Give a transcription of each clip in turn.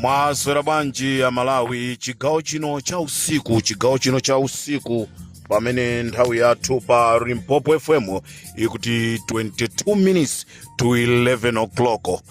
mwaswera bwanji amalawi chigawo chino cha usiku chigawo chino cha usiku pamene nthawi yathu pa limpopo fm ikuti 22 minutes to 11 o'clock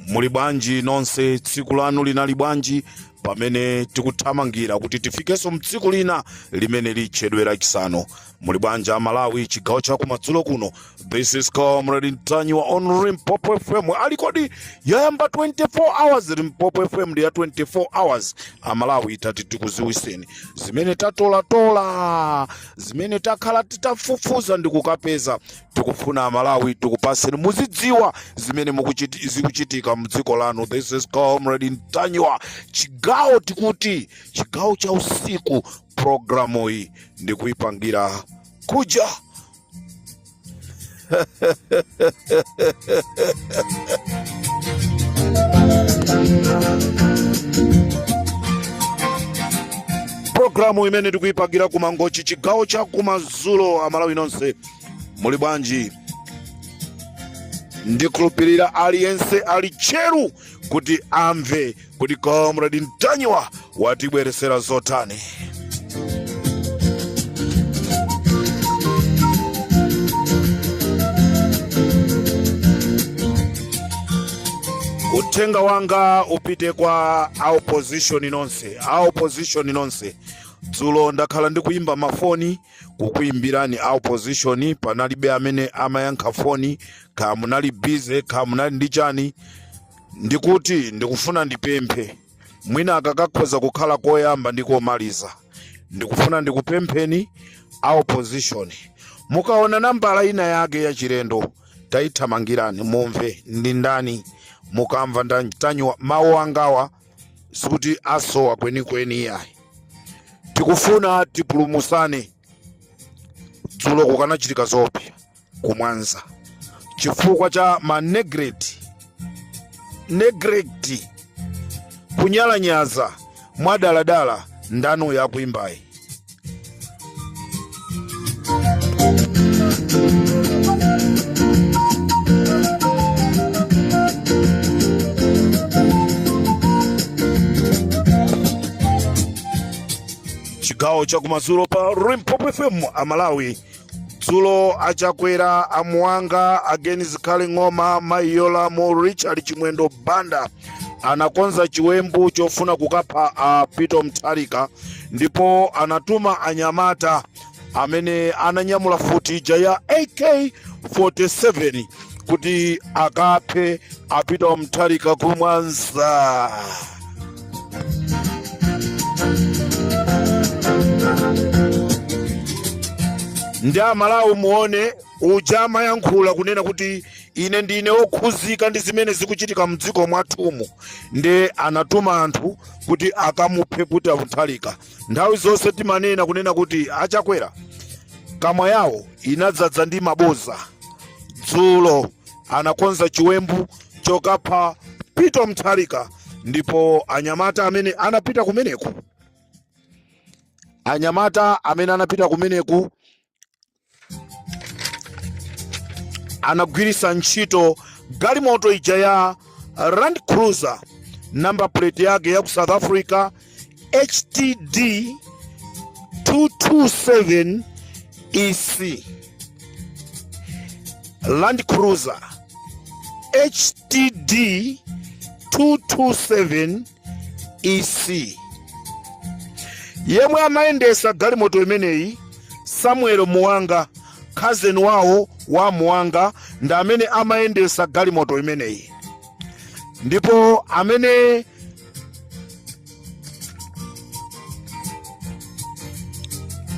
muli bwanji nonse tsiku lanu linali bwanji pamene tikuthamangira kuti tifikenso mtsiku lina limene litchedwe lachisanu muli bwanji amalawi chigawo cha kumadzulo kuno this is comrade ntanyiwa on limpopo fm ali kodi yayamba 24 hours limpopo fm ndi ya 24 hours amalawi tati tikuziwiseni zimene tatolatola zimene takhala titafufuza ndi kukapeza tikufuna amalawi tikupaseni muzidziwa zimene zikuchitika mdziko lanu this is comrade ntanyiwa chigawo tikuti chigawo cha usiku programu iyi ndikuyipangira kuja programu imene ndikuyipangira kumangochi chigawo cha kumazulo amalawi nonse muli bwanji ndikhulupirira aliyense ali tcheru kuti amve kuti comrade ntanyiwa watibweresera zotani uthenga wanga upite kwa a opposition nonse a opposition nonse dzulo ndakhala ndikuyimba mafoni kukuimbirani a opposition panalibe amene amayankha foni kaya munali bize kaya munali ndi chani ndikuti ndikufuna ndipemphe mwina akakakhoza kukhala koyamba ndi komaliza ndikufuna ndikupempheni a opposition mukaona nambala ina yake ya chilendo tayithamangirani mumve ndi ndani mukamva ntanyiwa mawu angawa sikuti asowa kwenikweni iyayi tikufuna tipulumusane dzulo kukanachitika zoopsa kumwanza chifukwa cha ma neglect neglect kunyalanyaza mwadaladala ndanu yakuimbayi chigawo chakumadzulo pa limpopo fm amalawi dzulo achakwera a Muwanga a Agnes Zikhale ng'oma Mayi Yolamu Richard chimwendo banda anakonza chiwembu chofuna kukapha a peter Mutharika ndipo anatuma anyamata amene ananyamula mfuti ija ya ak 47 kuti akaphe a Peter Mutharika ku Mwanza nde aMalawi muone uja amayankhula kunena kuti ine ndine okhuzika ndi zimene zikuchitika mdziko mwathumu nde anatuma anthu kuti akamuphe Peter Mutharika Nthawi zonse timanena kunena kuti achakwera kamwa yawo inadzadza ndi mabodza. Dzulo anakonza chiwembu chokapha Peter Mutharika ndipo anyamata amene anapita kumeneko anyamata amene anapita kumeneku anagwiritsa ntchito galimoto ija ya Land Cruiser number plate yake ya ku South Africa HTD 227 EC Land Cruiser HTD 227 ec yemwe amayendetsa galimoto imeneyi samuel muwanga cousin wawo wa muwanga ndi amene amayendetsa galimoto imeneyi ndipo amene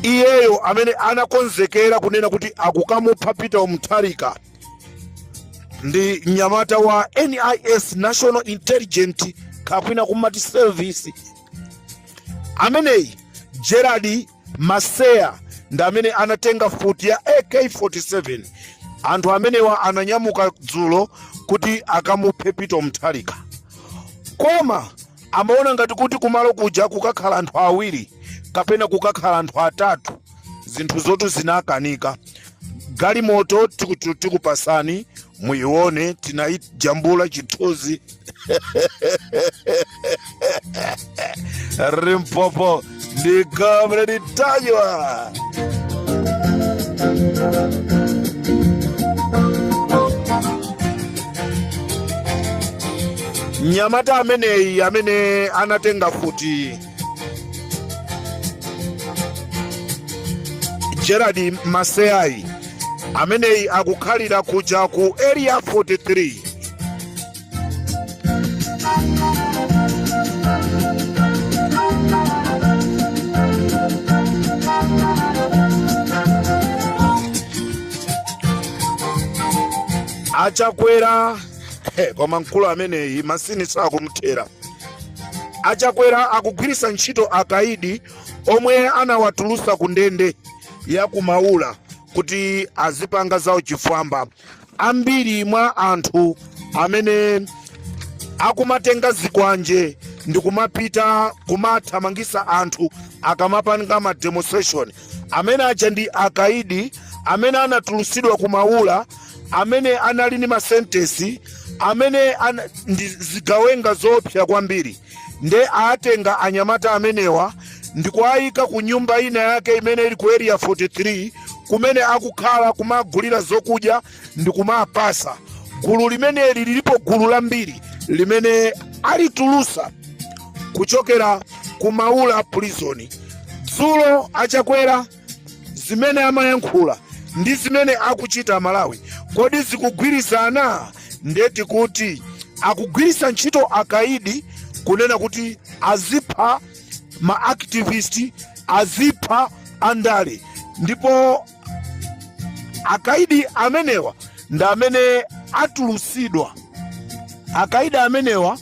iyeyo amene anakonzekera kunena kuti akukamupha peter mutharika ndi mnyamata wa nis national intelligence kapena kumati service ameneyi gerald maseya ndi amene anatenga mfuti ya ak47 anthu amenewa ananyamuka dzulo kuti akamuphe peter mutharika koma amaona ngati kuti kumalo kuja kukakhala anthu awiri kapena kukakhala anthu atatu zinthu zo tu zinakanika galimoto tikutu- tikupasani muione tinayijambula chithunzi limpopo ndi comrade ntanyiwa mnyamata ameneyi amene anatenga mfuti gerard maseya ameneyi akukhalira kuja ku area 43 achakwera koma mkulu ameneyi masini sakumthera A Chakwera akugwirisa ntchito akaidi omwe anawatulusa ku ndende ya ku Maula kuti azipanga zawo chifwamba. Ambiri mwa anthu amene akumatenga zikwanje ndi kumapita kumathamangisa anthu akamapanga ma demonstration amene aja ndi akaidi amene anatulusidwa ku Maula amene anali ndi masentesi amene ndi zigawenga zoopsa kwambiri nde atenga anyamata amenewa ndikuwayika ku nyumba ina yake imene ili ku area 43 kumene akukhala kumagulira zokudya ndi kumapasa gulu limeneli lilipo gulu lambiri limene alitulusa kuchokera ku maula prison dzulo achakwera zimene amayankhula ndi zimene akuchita amalawi kodi zikugwirizana ndeti kuti akugwirisa ntchito akaidi kunena kuti azipha ma activist azipha andale ndipo akaidi amenewa ndi amene atulusidwa akaidi amenewa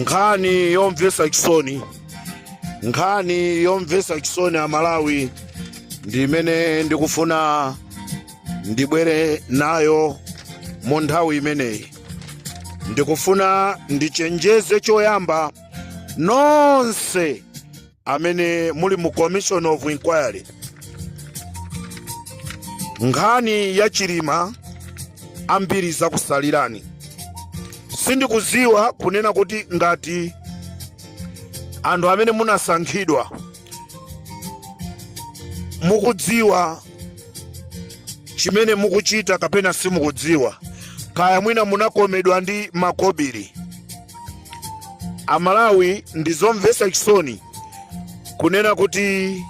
nkhani yomvesa chisoni nkhani yomvesa chisoni amalawi ndi imene ndikufuna ndibwere nayo mu nthawi imeneyi ndikufuna ndichenjeze choyamba nonse amene muli mu commission of inquiry nkhani ya chilima ambiri zakusalirani sindikuziwa kunena kuti ngati anthu amene munasankhidwa mukudziwa chimene mukuchita kapena simukudziwa kaya mwina munakomedwa ndi makobiri amalawi ndi zomvesa chisoni kunena kuti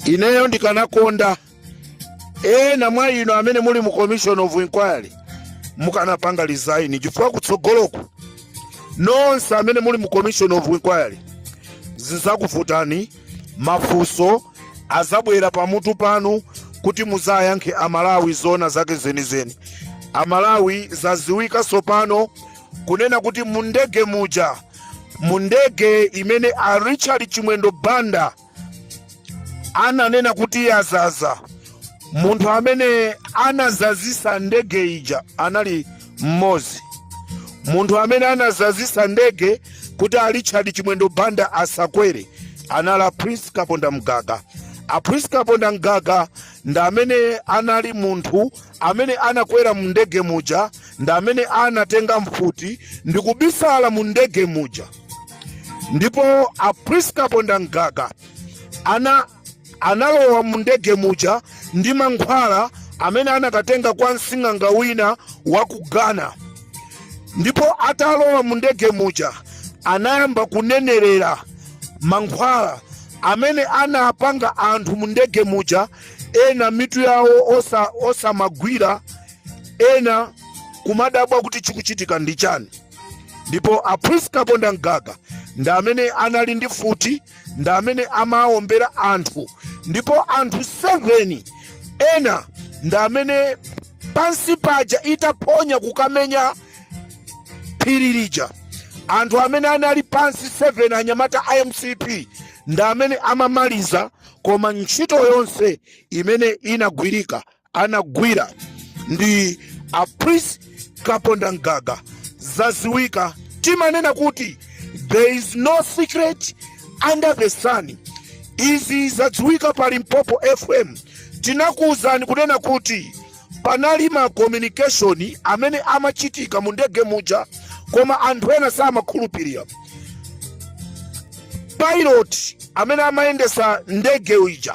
ineyo ndikanakonda ena mwa inu amene muli mu commission of inquiry mukanapanga resign chifukwa kutsogoloku nonse amene muli mu commission of inquiry zizakuvutani mafunso azabwera pamutu panu kuti muzayankhe amalawi zona zake zenizeni amalawi zaziwika sopano kunena kuti mundege muja mundege imene a richard chimwendo banda ananena kuti yazaza munthu amene anazazisa ndege ija anali mmozi munthu amene anazazisa ndege kuti a richard chimwendo banda asakwere anali a prince kaponda mgaga a prince kaponda mgaga ndi amene anali munthu amene anakwera mu ndege muja ndi amene anatenga mfuti ndi kubisala mu ndege muja ndipo a prince kaponda mgaga analowa mundege muja ndi mankhwala amene anakatenga kwa msing'anga wina wa ku ghana ndipo atalowa mundege muja anayamba kunenerera mankhwala amene anapanga anthu mundege muja ena mitu yawo osamagwira ena kumadabwa kuti chikuchitika ndi chani ndipo a prince kaponda mgaga ndi amene anali ndi mfuti ndi amene amawombera anthu ndipo anthu 7 ena ndi amene pansi paja itaphonya kukamenya phiri lija anthu amene anali pansi 7 anyamata a mcp ndi amene amamaliza koma ntchito yonse imene inagwirika anagwira ndi a prince kaponda mgaga zaziwika timanena kuti there is no secret under the sun izi zadziwika pa limpopo fm tinakuwuzani kunena kuti panali ma communication amene amachitika mu ndege muja koma anthu ena samakhulupirira pilot amene amayendesa ndege uja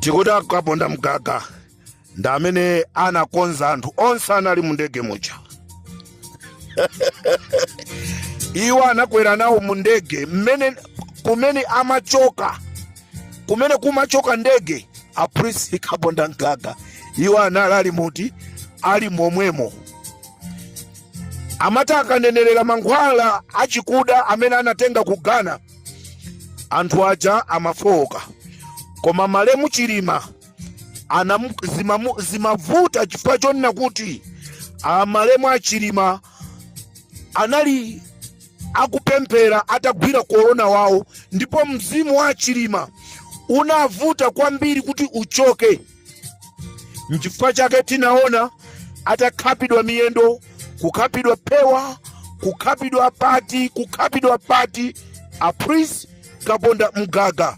tikuti akaponda mgaga ndi amene anakonza anthu onse anali mu ndege muja iwo anakwera nawo mu ndege mmene kumene amachoka kumene kumachoka ndege a prince kaponda mgaga iwo anali ali muti ali momwemo amati akanenerera mankhwala achikuda amene anatenga ku ghana anthu aja amafowoka koma malemu chilima zimavuta chifukwa chonena kuti malemu a chilima anali akupemphera atagwira korona wawo ndipo mzimu wa chilima unavuta kwambiri kuti uchoke Nchifukwa chake tinaona atakhapidwa miyendo, kukhapidwa phewa, kukhapidwa pati, kukhapidwa pati. A Prince Kaponda Mgaga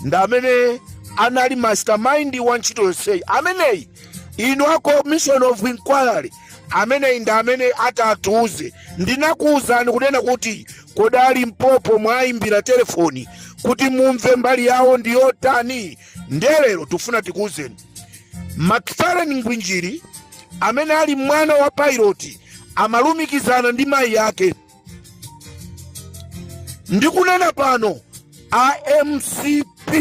ndi amene anali mastermind wa ntchito yonseyi. Ameneyi inu a commission of inquiry ameneyi ndi amene atatiuze. Ndinakuuzani kunena kuti kodi a Limpopo mwayimbira telefoni kuti mumve mbali yawo ndi yotani. ndiye lero tikufuna tikuwuzeni Macfarlane Ngwinjiri amene ali mwana wa pilot amalumikizana ndi mayi ake ndikunena pano a mcp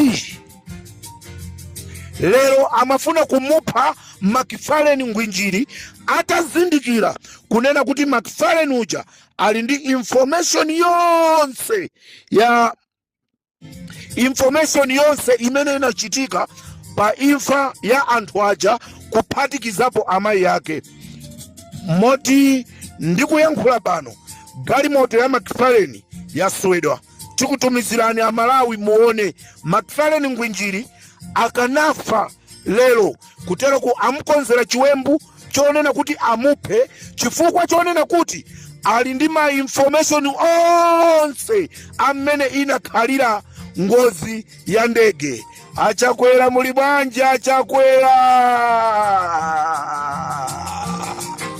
lero amafuna kumupha Macfarlane Ngwinjiri atazindikira kunena kuti Macfarlane uja ali ndi information yonse ya information yonse imene inachitika pa imfa ya anthu aja kuphatikizapo amayi ake moti ndikuyankhula pano galimoto ya Macfarlane yaswedwa tikutumizirani amalawi muone Macfarlane Ngwinjiri akanafa Lero kuteroku amukonzera chiwembu chonena kuti amuphe chifukwa chonena kuti ali ndi ma information onse amene inakhalira ngozi ya ndege. A Chakwera muli bwanji a Chakwera?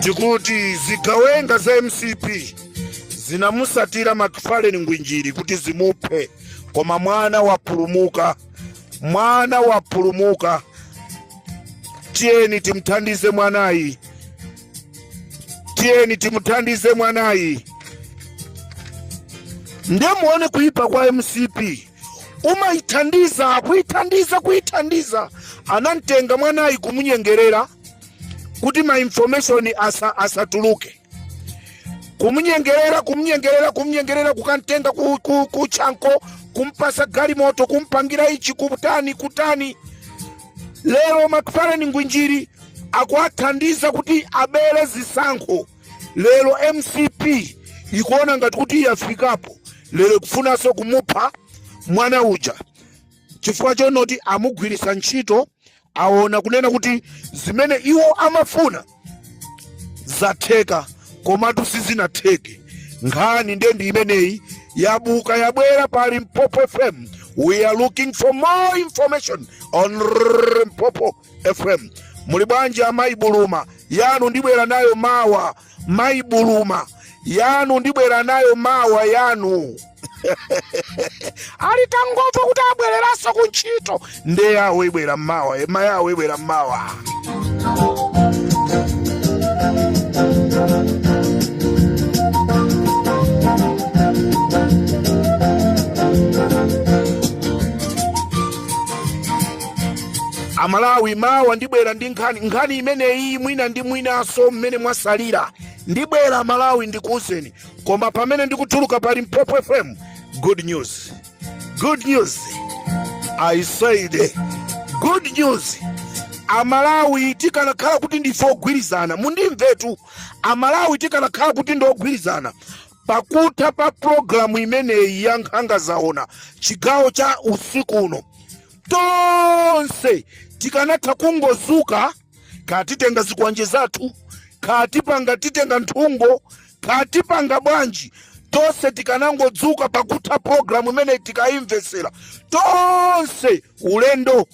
tikuti zigawenga za mcp zinamutsatira Macfarlane Ngwinjiri kuti zimuphe koma mwana wapulumuka mwana wapulumuka tiyeni timthandize mwanayi tiyeni timthandize mwanayi ndemuone kuipa kwa mcp kumayithandiza kuyithandiza kuyithandiza anamtenga mwanayi kumunyengerera kuti ma information asa, asatuluke kumunyengerera kumunyengerera kumunyengerera kukamtenga ku, ku, ku chanko kumpatsa galimoto kumpangira ichi kutani kutani lero Macfarlane Ngwinjiri akuwathandiza kuti abere zisankho lero mcp ikuona ngati kuti yafikapo lero ikufunanso kumupha mwana uja chifukwa chonoti amugwiritsa ntchito aona kunena kuti zimene iwo amafuna zatheka komatu sizinatheke nkhani nde ndi imeneyi yabuka yabwera pa limpopo fm we are looking for more information on limpopo FM. Muli bwanji amayi Buluma? Yanu ndibwera nayo mawa. Mayi Buluma yanu ndibwera nayo mawa yanu ali tangomva kuti abwereranso ku ntchito nde yawo ibwera mmawa ema yawo ibwera mmawa amalawi mawa ndibwera ndi nkhani imeneyi mwina ndi mwinanso mmene mwasalira ndibwera malawi ndikuuzeni koma pamene ndikutuluka pa limpopo fm good news good news i said good news amalawi tikanakhala kuti ndife ogwirizana mundimvetu amalawi tikanakhala kuti ndi ogwirizana pakutha pa programu imeneyi ya nkhanga zaona chigawo cha usiku uno tonse tikanatha kungozuka katitenga zikwanje zathu katipanga titenga nthungo katipanga bwanji tonse tikanangodzuka pakutha programu imeneyi tikayimvetsera tonse ulendo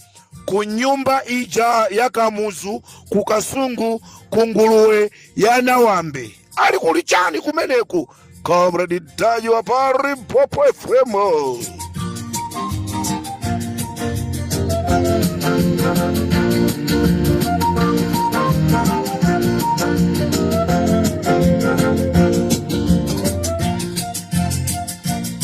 ku nyumba ija ya kamuzu ku kasungu ku nguluwe ya nawambe ali kuli chani kumeneku comrade ntanyiwa pa limpopo fm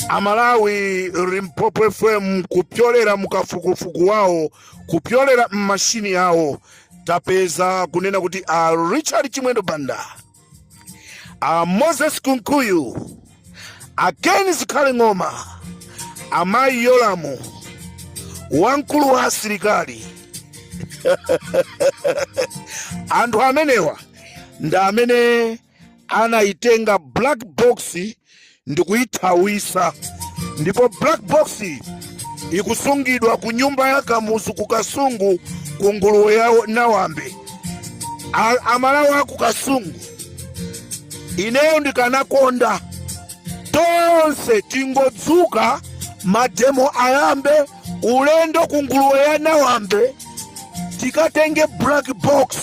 amalawi limpopo fm kupyolera mukafukufuku wawo kupyolera mmashini yawo tapeza kunena kuti a richard chimwendo banda a moses kunkuyu a ken zikhale ng'oma amayi yolamu wamkulu wa asilikali anthu amenewa ndi amene anayitenga black box ndikuyithawisa ndipo black box ikusungidwa ku nyumba ya kamuzu ku kasungu ku nguluwe ya nawambe amalawi aku kasungu ineyo ndikanakonda tonse tingodzuka mademo ayambe ulendo ku nguluwe ya nawambe tikatenge black box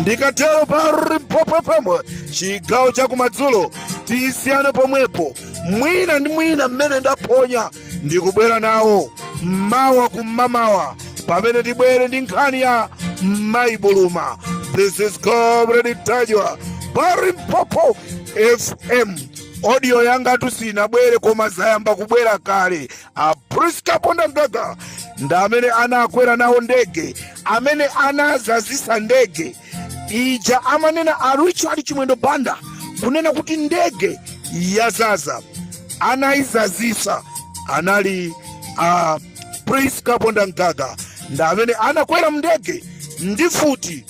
ndikatero pa limpopo fm chigawo chakumadzulo tisiyane pomwepo mwina ndi mwina mmene ndaphonya ndikubwera nawo mmawa kum'mamawa pamene tibwere ndi nkhani ya mayi buluma this is comrade ntanyiwa pa limpopo fm audio yangatu sinabwere koma zayamba kubwera kale a prisca kaponda mgaga ndi amene anakwera nawo ndege amene anazazisa ndege ija amanena a richard chimwendo banda kunena kuti ndege yazaza anayizazisa anali a prisca kaponda mgaga ndi amene anakwera mndege ndi futi